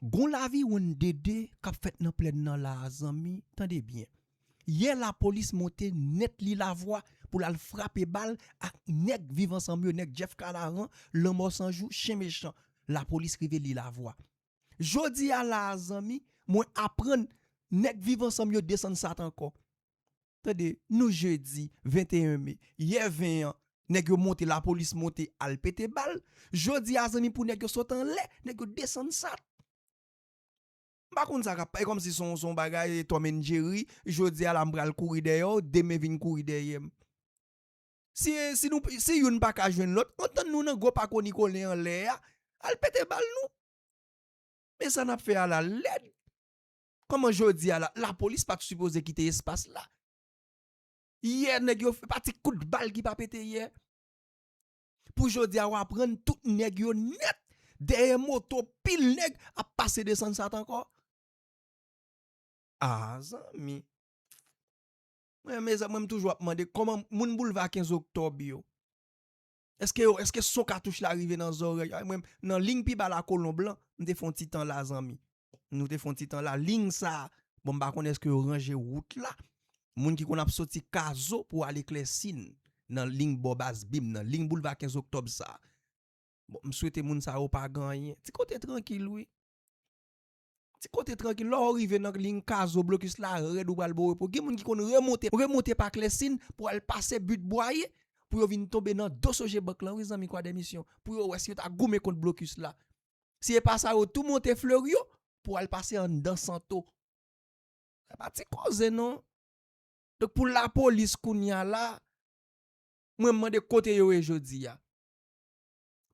Gon laviwonn dede kap fèt nan plèn nan la a zanmi tande byen yè lapolis monte nèt li lavwa pou lal frape bal ak nèg viv ansanm yo nèg Jeff kanaran lanmò san jou chen mechan lapolis rive li lavwa jodi a la a zanmi mwen aprann nèg viv ansanm yo desann sat ankò Tande nou jedi 21 me, yè 20 an nèg yo monte lapolis monte al pete bal, jodi a zanmi pou nèg yo sot anlè, nèg yo desann sat. M pa konn sa kap, e kòmsi son son bagay Tom and Jerry, jodi a la m pral kouri dèyè w, demen vin kouri dèyè m. Si si nou si youn pa ka jwenn lòt, an tann nou nan gwo pako Nicolin anlè a, al pete bal nou. Men sa nap fè a la lèd. Kòman jodi a la, lapolis pat sipoze kite espas la? Yè nèg yo, pa ti kout bal ki pa pete yè. Pou jodi a ou aprann tout nèg yo nèt dèyè moto pil nèg ap pase desann sat ankò. A zanmi. Mwen mezanmi mwen m toujou ap mande kòman moun boulva 15 oktòb yo. Eske yo eske son katouch la rive nan zòrèy ay mwen nan ling pi ba la kolon blan m te fon ti tan la zanmi nou te fon ti tan la ling sa bon m pa konn eske yo ranje wout la moun ki konn ap soti kazo pou ale klèsin nan ling bò baz bib nan ling boulva 15 oktòb sa bon m swete moun sa yo pa gan yen ti kote trankil wi. Ti kote trankil lè ou rive nan ligne kazo blocus la rèd ou pral bon repo gen moun ki konn remonte remonte pa clèsin pou al pase but bwaye pou yo vin tonbe nan dos ojebank lan wi zanmi kwadèmisyon pou yo wè si yo ta goumen kont blocus la si epa sa yo tou monte fleuryo pou al pase anndan santo sa pa ti koze non donk pou lapolis kounya la mwen mande kote yo ye jodi a.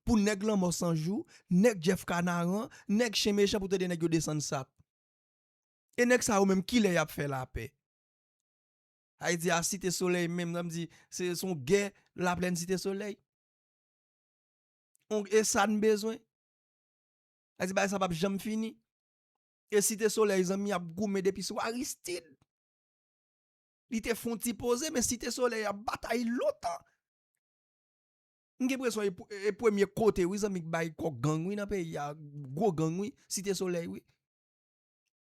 pou nèg lanmò sanjou, nèg Jeff kanaran, nèg chen mechan pou tande nèg yo desann sap. E nèg sa yo menm kilè yap fè lapè? Haiti a site solèy menm nan di se son gè laplèn site solèy. Ong esa n bezwen. A di bagay sa pap janm fini. E site solèy zanmi ap goumen depi sou Aristide. Li te fon ti poze men site solèy ap batay lontan. M gen presyon e premye kote wi zanmi k bay kok gang wi nan peyi a gwo gang wi site soley wi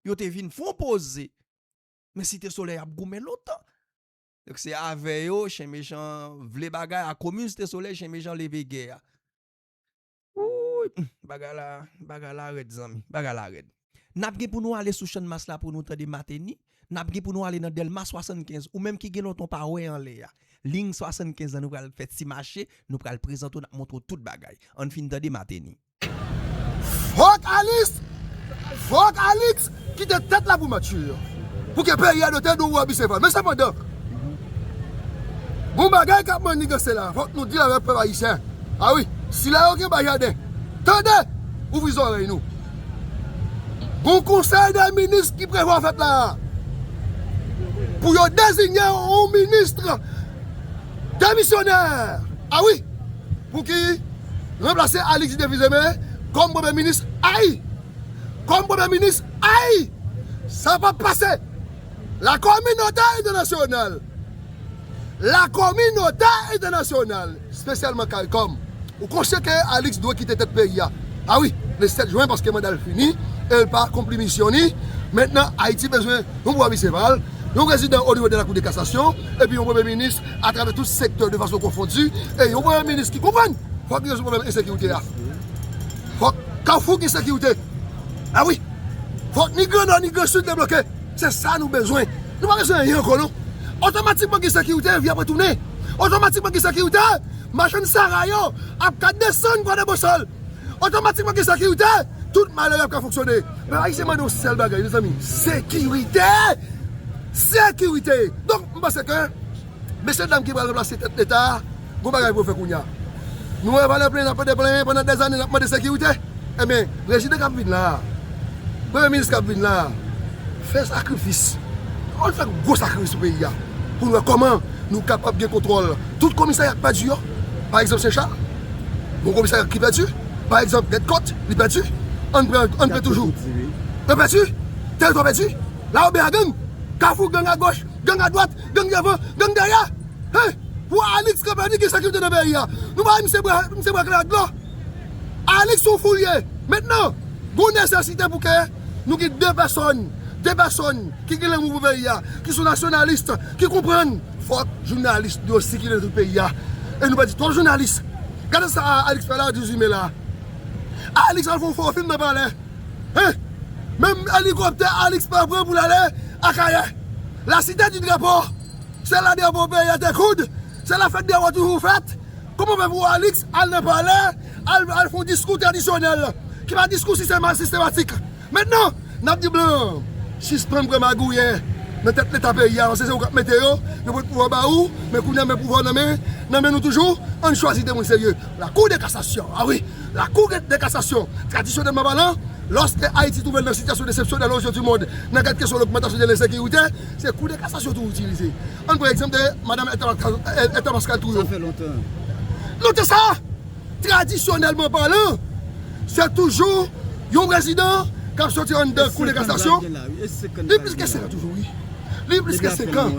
yo te vin fon poze men site soley ap goumen lontan donk se avè yo chen mechan vle bagay a komin site soley chen mechan leve gè a wouuyy bagay la bagay la rèd zanmi bagay la rèd. N ap gen pou nou ale sou Channmas la pou nou tande Mateni, n ap gen pou nou ale nan Dèlma 75, ou menm ki gen lontan w pa wè anlè a, Liy 75 la nou pral fè ti mache, nou pral prezante w, n ap montre w tout bagay. An n fin tande Mateni. Fòk Alis, fòk Alix kite tèt la pou Mathieu pou ke peyi a do tèt Dodo a Biseval. Men sepandan, gon bagay k ap manniganse la a, fòk nou di l avèk pèp ayisyen. A wi, sila yo ki anba jaden, tande! Ouvri zòrèy nou. Gon konsèy dè minis ki prevwa fèt la a pou yo dezinye yon ministre demisyonè a wi pou ki ranplase Alix Devizeme kòm premye minis ayy kòm premye minis ayy sa pap pase. La kominote entènasyonal, La kominote entènasyonal, spesyalman caricom, ou konsyan ke Alix dwe kite tèt peyi a, a wi, le 7 jwen paske manda l fini e l pa akonpli misyon li. Mentnan Ayiti bezwen yon bwa misye pa l, yon prezidan o nivo de la kou de kasasyon, epi yon premye minis atravè tout sektè de fason konfondi, e yon premye minis ki konprann fòk li rezoud pwoblèm ensekirite a. Fòk Kafou gen sekirite. Ah wi! Fòk ni gran nò ni gran sid debloke! Se sa nou bezwen! Nou pa bezwen anyen ankò non! Otomatikman gen sekirite, vi ap retounen! Otomatikman gen sekirite, machann sara yo ap ka desann pran de bosal! Otomatikman gen sekirite, tout malere ap ka fonksyone! Pèp ayisyen mande yon sèl bagay mezanmi, sekirite! Sekirite! Donk, m panse ke. Mesye dam ki pral ranplase tèt leta a gon bagay pou yo fè kounya. Nou wè valè plenyen n ap mande plenyen pandan dèzane n ap mande sekirite enben prezidan k ap vin la a, premye minis k ap vin la a fè sakrifis, ann fè gwo sakrifis pou peyi a pou n wè kòman nou kapab gen kontwòl tout komisarya k pèdi yo pa egzanp Sen Chal gon komisarya ki pèdi pa egzanp Gèt Kòt li pèdi ann pran ann pran toujou yo pèdi tèritwa pèdi Lawobè a gang Kafou gang agoch gang adwat. Gang devan, gang dèyè! Hey! Pou Alix kanpe ni gen sekirite nan peyi a. Nou bay misye bwa, misye bwa kle dlo. Alix son fou li ye. Mentnan, gon nesesite pou ke nou gen 2 pèsòn, 2 pèsòn ki gen lanmou pou peyi a, ki son nasyonalist, ki konprann. Fòk jounalis nou yo sikile nan tout peyi a. E nou pèdi twòp jounalis. Gade sa Alix fè la 18 me la. Alix al fè yon fo fim nan palè. Hein! Menm elikoptè Alix pa pran pou l ale Akayè. La cité du drapeau! Se la drapeau peyi a te koud, se la fèt drapeau toujou fèt. Kòman w fè pou Alix al nan palè, al fè yon diskou tradisyonèl, ki pa diskou sistematik. Mentnan, n ap di blan an, sispann pran magouyè nan tèt leta peyi a paske se ou k ap mete yo, yo pot pouvwa ba ou, men kounye a men pouvwa w nan men nou toujou, ann chwazi de moun serye. La cour de cassation, a wi! La Cour de cassation, tradisyonèlman palan, lòske Ayiti twouve l nan sitiyasyon desepsyonèl ozyeu du mond nan kad kesyon logmantasyon de lensekirite, se Cour de cassation tou itilize. Ann pran egzanp de Madam Esther Pascal Trouillot. Note sa, tradisyonèlman palan, se toujou yon prezidan k ap soti anndan Cour de cassation, li plis ke 5 an toujou wi, li plis ke 5 an.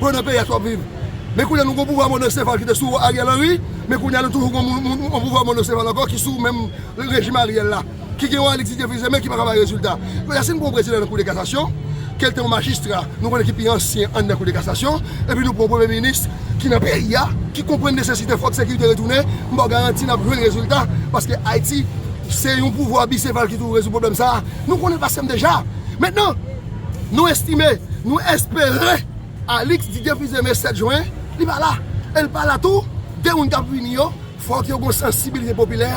Bon nan peyi a sa wap viv. Men kounya nou gon pouvwa monocefal ki te sou Ariel Henry, men kounya nou toujou gon moun yon pouvwa monocefal ankò ki sou menm rejim Ariel la, ki gen yon Alexis Théophile Zé men ki paka bay rezilta. Kounya si nou pran yon prezidan nan kou de kasasyon, ke l te yon majistra, nou konnen ki pi ansyen anndan kou de kasasyon, epi nou pran yon premye minis ki nan peyi a, ki konprann nesesite fòk sekirite retounen, m ba w garanti n ap jwenn rezilta, paske Ayiti se yon pouvwa bisefal ki toujou rezoud pwoblèm sa a. Nou konnen l pa senp deja. Mentnan. Nou estime, nou espere Alix Didier Fils-Aimé 7 Juin li pa la. E li pa la tou, 2 moun k ap vini yo, fòk yo gon sansibilite popilè.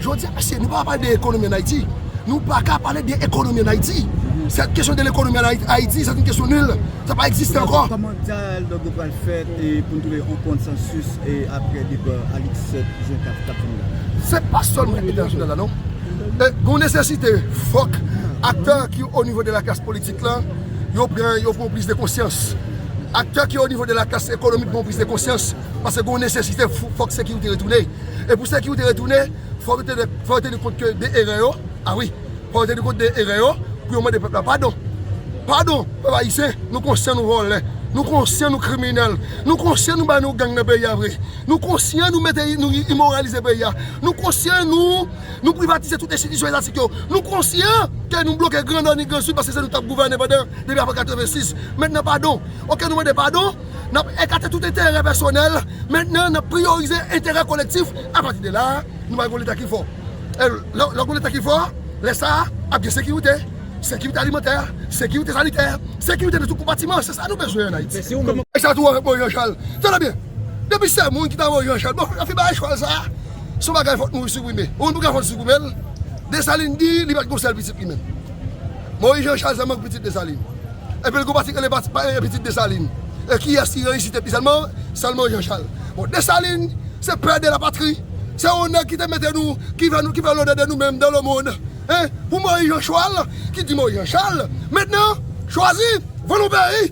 Jodi a mesye, nou pa ka pale de ekonomi an Ayiti. Nou pa ka pale de ekonomi an Ayiti. Sèt kesyon de lekonomi an Ayiti, sèt yon kesyon nil. Sa pa egziste ankò. Kòman dyalòg yo pral fèt e pou n twouve yon konsansis apre depa Alix 7 Juin k ap vini la? Se pa sèlman entènasyonal la non. Gon nesesite fòk aktè ki o nivo de la klas politik la yo pran yo pran plis de konsyans. Aktè ki o nivo de la klas ekonomik pran plis de konsyans paske gon nesesite fòk sekirite retounen. E pou sekirite retounen fò yo tene fò yo teni kont ke de erè yo a wi fò yo teni kont de erè yo pou yo mande pèp la padon. Padon pèp ayisyen nou konsyan nou vòlè, nou konsyan nou kriminèl, nou konsyan nou bay nou gang nan peyi a vre. Nou konsyan nou mete nou imoralize peyi a. Nou konsyan nou nou privatize tout enstitisyon etatik yo. Nou konsyan ke nou bloke gran nò ni gran sid paske se nou k t ap gouvènen pandan depi apre 86. Mentnan padon. Ok nou mande padon, n ap ekate tout enterè pèsonèl, mentnan n ap priyorize enterè kolektif. Apati de la a, nou pral gen yon leta ki fò. E lè w gen yon leta ki fò, lè sa a ap gen sekirite. Sekirite alimantè, sekirite sanitè, sekirite nan tout konpatiman. Se sa nou bezwen an Ayiti. Mèsi pou kesyon sa. Bon Jean Charles, tande byen! Depi se moun ki ta voye yon chwal bon yo fin bay chwal sa son bagay fok nou siprime ou menm pou kafon siprimel Desalin di li pat gon sèl pitit li menm Moyiz Jan Chal sèlman ki pitit Desalin epil gon pati ki rele pati pa pitit Desalin e kiyès ki reyisi tèt li sèlman sèl Moyiz Jan Chal bon Desalin se pè de la patri se yon nèg ki te mete nou ki fè nou ki fè lode de nou menm dan le mond e pou Moyiz Jan Chwal ki di Moyiz Jan Chal mentnan chwazi vann yon peyi.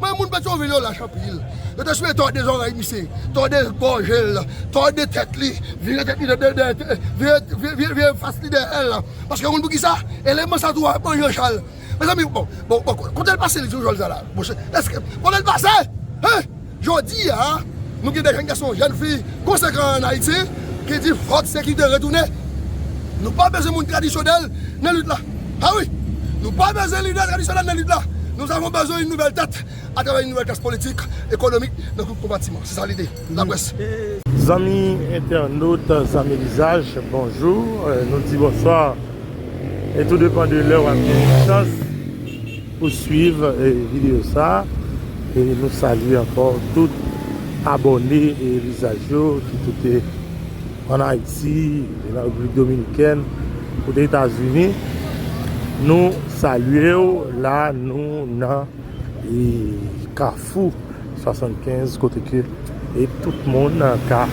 Men moun Petyonvil yo lach anpil. Yo te souye tòde zòrèy misye, tòde gòje l, tòde tèt li, vire tèt li dèyè, vire fas li dèyè l. Paske ou konn poukisa? Eleman sa tou a pran Janchal. Mezanmi, bon, bon, bon, kote l pase li di w jòl sa la? Monchè, èske, kote l pase? Hein! Jodi a, nou gen de jenn gason, jenn fi konsekan an Ayiti ki di fòk sekirite retounen. Nou pa bezwen moun tradisyonèl nan lit la. Ah wi! Nou pa bezwen lidè tradisyonèl nan lit la. Nous avons besoin une nouvelle tête à travers une nouvelle classe politique, économique nan tout konpatiman. Se sa lide laprès. Zanmi entènot, zanmi lizaj, bonjou, nou di bonswa e tou depan de lè wap gen chans pou swiv videyo sa e nou salye ankò tout abòne e lizaj yo ki tout te An Ayiti e nan Repiblik Dominikèn kote Etazini nou salye w la nou nan kafou 75 kote ke e tout moun ka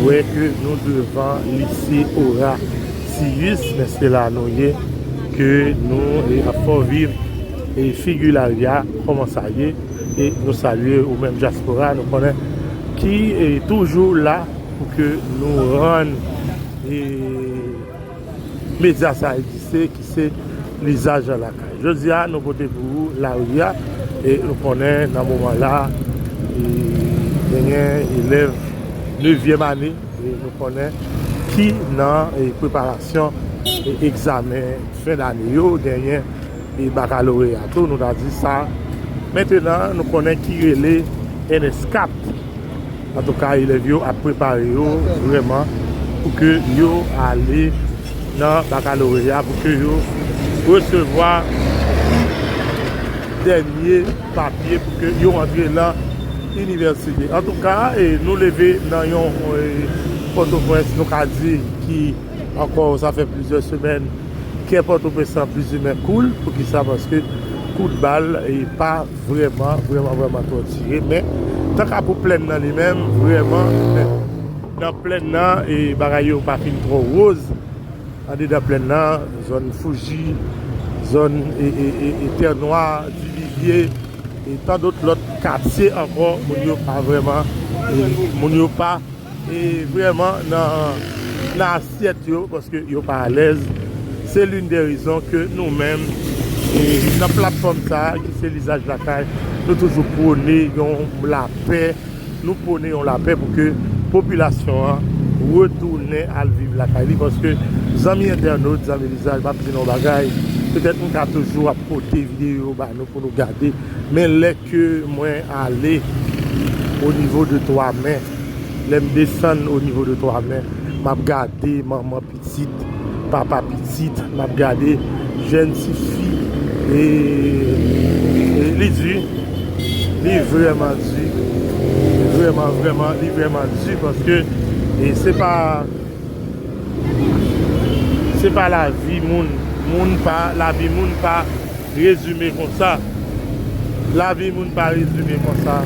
wè ke nou devan lise Orasiyis men se la nou ye ke nou ap fè w viv e figi larya kòman sa ye. e nou salye ou menm dyaspora nou konnen ki toujou la pou ke nou rann e medya sa egziste ki se lizaj la lakay. Jodi a nou pote pou ou lari a e nou konnen nan moman la e genyen elèv nevyèm ane e nou konnen ki nan e preparasyon e egzamen fen dane yo genyen e bakaloreya tou nou ta di sa mentenan nou konnen ki rele ns 4 antouka elèv yo ap prepare yo vreman pou ke yo ale nan bakaloreya pou ke yo resevwa dènye papye pou ke yo antre lan inivèsite antouka e nou leve nan yon pòtoprens nou ka di ki ankò sa fè plizyè semèn Kè pòtoprens lan plizimen koul poukisa paske kout bal pa vrèman vrèman vrèman twò tire men tanka pou plèn nan li menm vrèman nan plèn nan e bagay yo pa fin twò woz andedan plèn nan zòn fouji zòn e tè nwa divivye e tandot lòt katye ankò moun yo pa vrèman moun yo pa. E vreman nan asyèt yo paske yo pa alèz se lin de rezon ke nou menm nan platfòm sa ki se lizaj lakay nou toujou pwone yon lapè nou pwone yon lapè pou ke popilasyon an retounen al viv lakay li paske zanmi entènot zanmi lizaj map di nou yon bagay petèt m ka toujou ap pote videyo ba nou pou nou gade men lè ke mwen ale o nivo de 3 mè. Lèm desann o nivo de 3 mè map gade manman pitit papa pitit map gade jèn ti fi e li di wi li vrèman di vrèman vrèman li vrèman di paske se pa Se pa la vi moun, moun pa, la vi moun pa rezime konsa. La vi moun pa rezime konsa.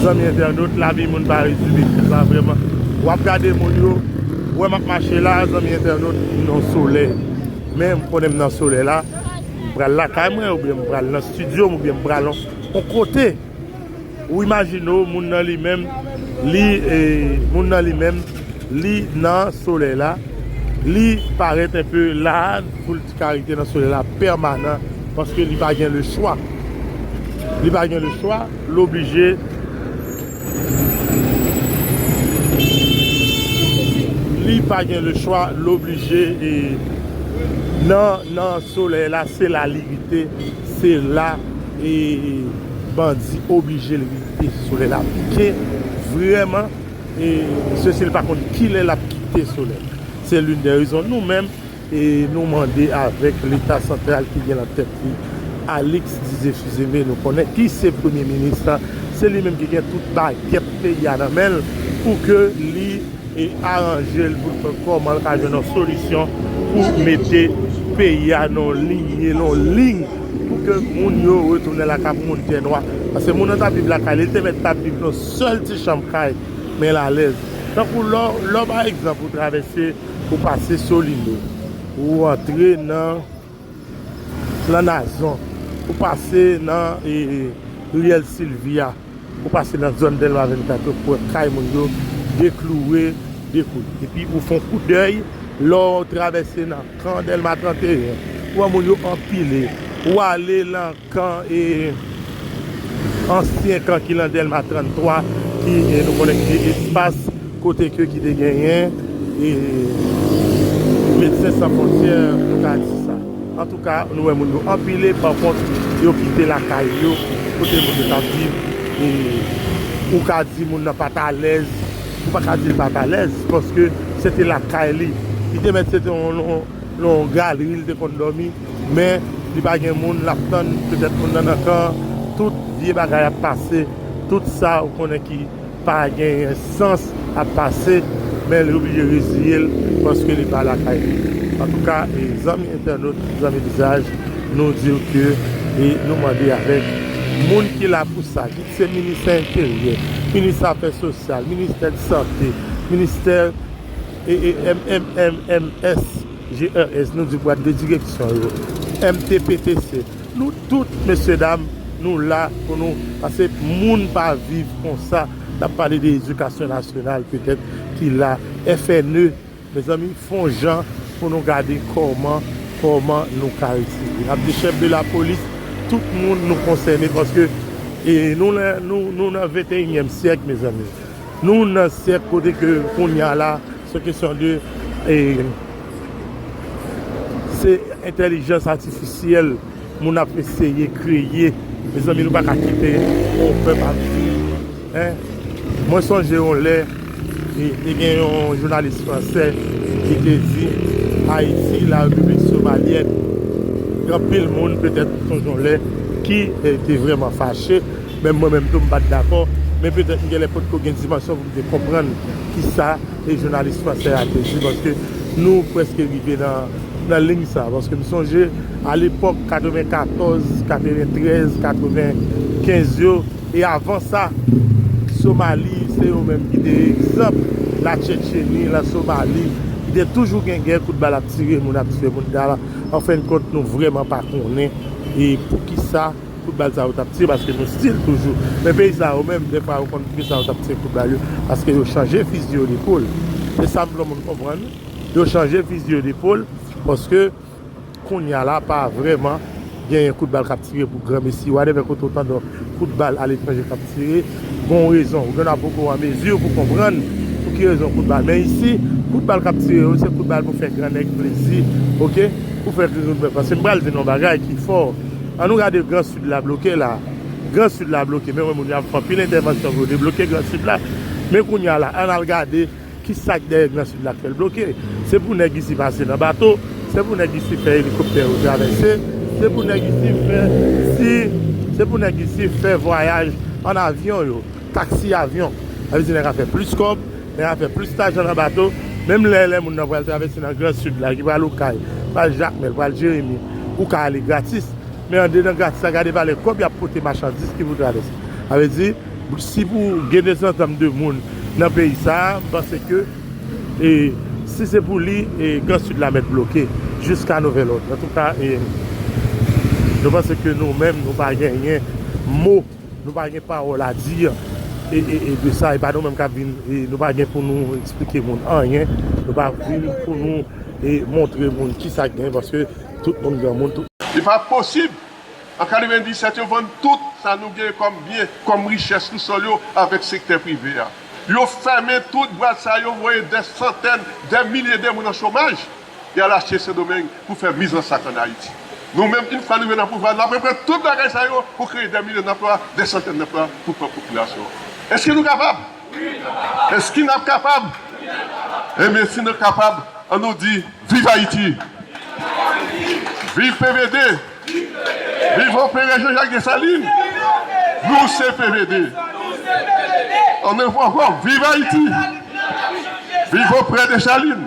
Zanmi entènot, la vi moun pa rezime konsa vreman. Wap gade moun yo, wè map mache la, zanmi entènot, nan sole. Men, m konnen m nan sole la, m pral lakay mwen, oubyen m pral nan studio m, oubyen m pral an kote. Ou imajine w moun nan li menm li moun nan li menm li nan solèy la li parèt enpe laad pou l t ka rete nan solèy la pèmanan paske li pa gen lechwa li pa gen lechwa l oblije li pa gen lechwa l oblije nan nan solèy la se la li rete se la. E bandi oblije l rete solèy la pike vrèman e se si l pa konn kilè l ap kite solèy se lin dè rezon nou menm e nou mande avèk leta santral ki gen nan tèt li Alix Dizefizeme nou konnen ki se premye minis se li menm ki gen tout bagèt peyi a nan men l pou ke li. e aranje l pou l fè kòman l ka jwenn yon solisyon pou mete peyi a nan yon linye, nan yon liy pou ke moun yo retounen lakay pou moun tè nwa. Paske moun nan t ap viv lakay li, li te mèt t ap viv nan yon sèl ti chanm kay, men l alèz. Tankou lè w, lè w pa egzanp ou travèse, ou pase Solino, ou antre nan. Nan Nazon, ou pase nan Riyèl Silvi a, ou pase nan zòn Dèlma 24 yo, pou wè kay moun yo dekloure, dekoud. Epi ou fon koudèy, lè w travèse nan kan Dèlma 31, ou wè moun yo anpile. Ou ale nan. Kan e ansyen kan ki lan Delma 33 ki e nou konnen ki te espas kote ke ki te genyen e Medsen San Fontyè nou ka di sa. Antouka nou wè moun yo anpile pa kont yo kite lakay yo kote moun yo tap viv e ou ka di moun nan pat alèz ou pa ka di li pat alèz paske se te lakay li. Li te mèt se te lan yon galeri li te konn dòmi. men li pa gen moun lap tann petèt moun nan nan kan tout vye bagay ap pase tout sa ou konnen ki pa genyen sans ap pase men li oblije reziyel paske li pa lakay li antouka zanmi entènot zanmi lizaj nou diw ke e nou mande avèk moun ki la pou sa kit se ministè enteryè minis afè sosyal ministè sante ministè MMMMS. GRS nou di bwat de direksyon yo, MTPTC, nou tout mesye dam nou la pou nou pase moun pa viv konsa nap pale de edikasyon nasyonal petèt ki la FNE mezanmi fon jan pou nou gade kòman kòman nou ka retire nap di chèf de lapolis tout moun nou konsène paske nou nan nou nan venteyinyèm syèk mezanmi nou nan syèk kote ke kounya la. Se kesyon de se entèlijans atifisyèl moun ap eseye kreye mezanmi nou paka kite yon pèp ap viv en mwen sonje yon lè te gen yon jounalis fransè ki te di ayiti la repiblik somalyèn gen anpil moun petèt nou sonje yon lè ki te vrèman fache menm mwen menm tou m pat dakò men petèt m gen lè potko gen dimansyon Te konprann ki sa e jounalis fransè a te di paske nou preske rive nan lign sa paske m sonje a lepok 94 93 95 yo e avan sa somali se yo menm ki te egzanp la tchetcheni la somali ki te toujou gen gè kout bal ap tire moun ap tue moun anfen kont nou vreman pa konnen e poukisa. Kout bal sa yo tap tire paske nou stil toujou men peyi sa yo menm dèfwa yo konn kisa yo tap tire kout bal yo paske yo chanje fizi yo depol se sam vle moun konprann yo chanje fizi yo depol paske kounya la pa vrèman genyen kout bal kap tire pou gran mesi wadèvè kote ou tande kout bal aletranje kap tire gon rezon ou genlè poko an mezi pou konprann pou ki rezon kout bal men isi kout bal kap tire yo se kout bal pou fè gran nèg plezi ok pou fè gringoun pè paske m pral di nou yon bagay ki fò. An nou gade gran sud la bloke la gran sud la bloke men wè moun yo ap fè anpil entèvansyon pou yo debloke gran sud la men kounya la ann al gade kisak dèyè gran sud la k fè l bloke se pou nèg isi pase nan bato se pou nèg isi fè elikoptè yo travèse se pou nèg isi fè si se pou nèg isi fè vwayaj an avyon yo taksi avyon sa vle di nèg ap fè plis kòb Men afè plis lajan nan bato, menm lè lè moun nan pral travèse nan gran sid la ki pral okay, pral jakmèl, pral jeremi, ou ka ale gratis, men andedan gratis la gade valè kòb yap pote machandis ki pou travèse. Sa vle di si pou gen dezantanm 2 moun nan peyi sa, m panse ke e si se pou li e gran sid la mèt bloke jiska nouvèl òd. Antouka e nou panse ke nou menm nou pa genyen mo. Nou pa gen pawòl a di e de sa e pa nou menm kap vin nou pa gen pou nou eksplike moun anyen nou pa vin pou nou e montre moun kisa k gen paske tout moun granmoun tout Li pa posib! An 97 yo vann tout sa nou gen kòm byen, kòm richès sou sòl yo avèk sektè prive a. Yo fèmen tout bwat sa yo voye dè santèn, dè milye de moun an chomaj. e al achte Sendomeng pou fè miz an sak an Ayiti. Nou menm, yn fwa nou rive nan pouvwa, nap reprann tout bagay sa yo pou kreye dè milyon danplwa, dè santèn danplwa pou pwòp popilasyon an. Eske nou kapab? Wi nou kapab! Eske nap kapab? Wi nap kapab! Enben si nou kapab, an nou di, Viv Ayiti! Viv Ayiti! Viv PVD! Viv PVD! Viv Anperè Janjak Desalin! Viv Anperè! Nou se PVD! Nou se PVD! An nou fò ankò, Viv Ayiti! Viv Anperè Desalin!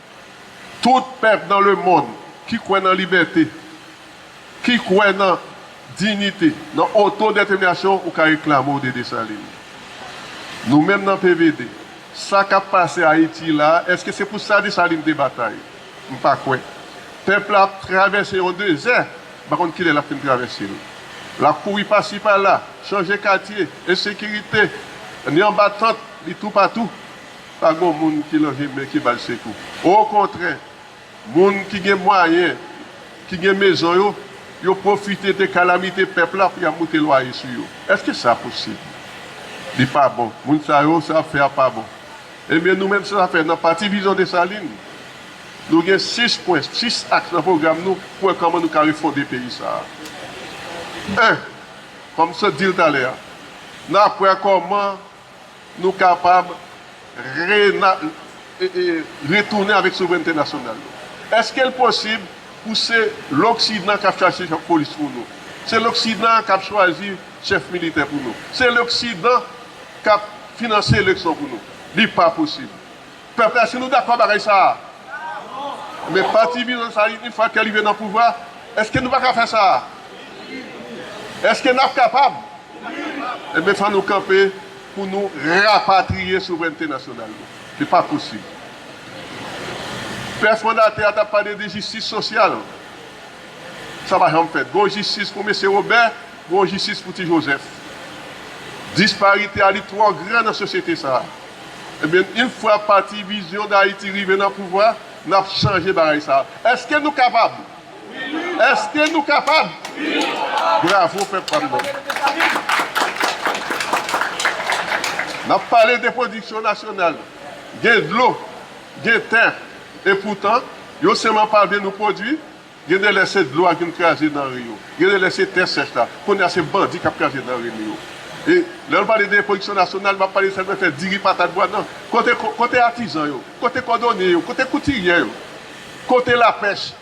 Tout pèp nan lemonn ki kwè nan libète, ki kwè nan dinite, nan otodèteminasyon ou ka reklame w de Desalin. Nou menm nan PVD, sa k ap pase Ayiti la a, èske se pou sa Desalin te batay? M pa kwè. Pèp la ap travèse yon dezè, m pa konn ki lè l ap fin travèse l. L ap kouri pasi pala, chanje katye, ensekirite, ni anba tant, li toupatou. Pa gon moun ki lan vye men ki bay sekou. Okontrè, moun ki gen mwayen, ki gen mezon yo, yo pwofite de kalamite pèp la pou y ap moute lwaye sou yo. Èske sa posib? Li pa bon. Moun sa yo, sa y ap fè a pa bon. Ebyen, nou menm sa fè nan Pati Vizyon Desalin, nou gen 6 pwen, 6 aks nan pwogram nou pou wè kòman nou ka refonde peyi sa a. 1, Kòm m sot di l talè a, n ap wè kòman. Nou kapab retounen avèk souvrènte nasyonal nou. Eske l posib pou se loksidan k ap chache chèf polis pou nou? Se loksidan k ap chwazi chèf militè pou nou? Se loksidan k ap finanse eleksyon pou nou? Li pa posib. Pèp la si nou dakò bagay sa a. Men pati vizyon sa li yn fwa ke li vin nan pouvwa eske nou paka fè sa a? Eske nap kapab? Ebyen fò nou kanpe pou nou rapatriye souvrènte nasyonal nou. Li pa posib. Pè fondatè a tap pale de jistis sosyal. Sa pa janm fèt. Gon jistis pou mesye Wobè, gon jistis pou ti Jozèf. Disparite a li twò gran nan sosyete sa a. Ebyen une fwa pati vision d'Haiti rive nan pouvwa nap chanje bagay sa eske nou kapab eske nou kapab bravo pèp pam nan nap pale de production nationale gen dlo gen tè epoutan yo seman pa vle nou produit Gen de lè se dlo a vin kraze danre yo. Gen de lè se tè sèch la. Kounye a se bandi k ap kraze danre nou yo. E lè nou pale de pwodiksyon nasyonal, m ap pale de sa nou rele diri, patat, bwa nan. Kote kote atizan yo? Kote kòdonye yo? Kote koutiryè yo? Kote lapèch?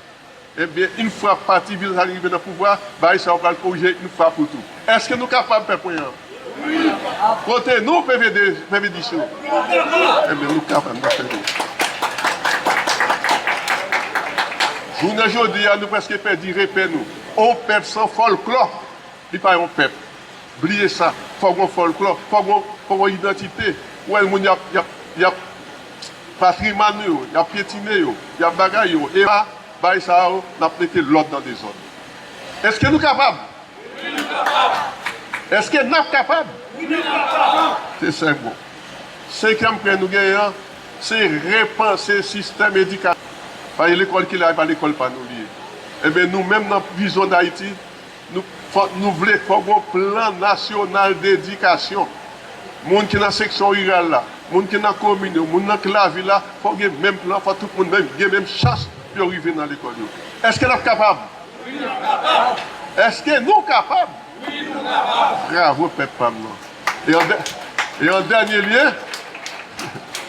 Ebyen, in fwa pati Vilsarin rive nan pouvwa, bagay sa yo pral korije in fwa pou tou. Èske nou kapab fè pwen an? Kote nou pvdis yo. Jounen jodi a nou preske pèdi repè nou. On pèp san fòlklò li pa yon pèp. Bliye sa. Fòk gon fòlklò. Fòk gon idantite. Ou wè moun y ap patriman nou yo. Y ap pyetine yo. Y ap bagay yo. Epa bagay sa yo n ap mete lòd nan dezòd. Eske nou kapab? Eske nap kapab? Se sèk bon. Senkyèm pwen nou genyen an, se repanse sistèm edikasyon. Paske lekòl ki la e pa lekòl pa nou li ye. Enben nou menm nan Vizyon Dayiti, nou fòk nou vle fòk gen yon plan nasyonal dedikasyon. Moun ki nan seksyon riral la, moun ki nan komin yo, moun nan ki lavil la, fòk gen menm plan, fòk tout moun gen menm chans pou yo rive nan lekòl yo. Eske nap kapab? Wi nap kapab. Eske nou kapab? Wi nou kapab. Bravo pèp pam nan. E an dènye lye.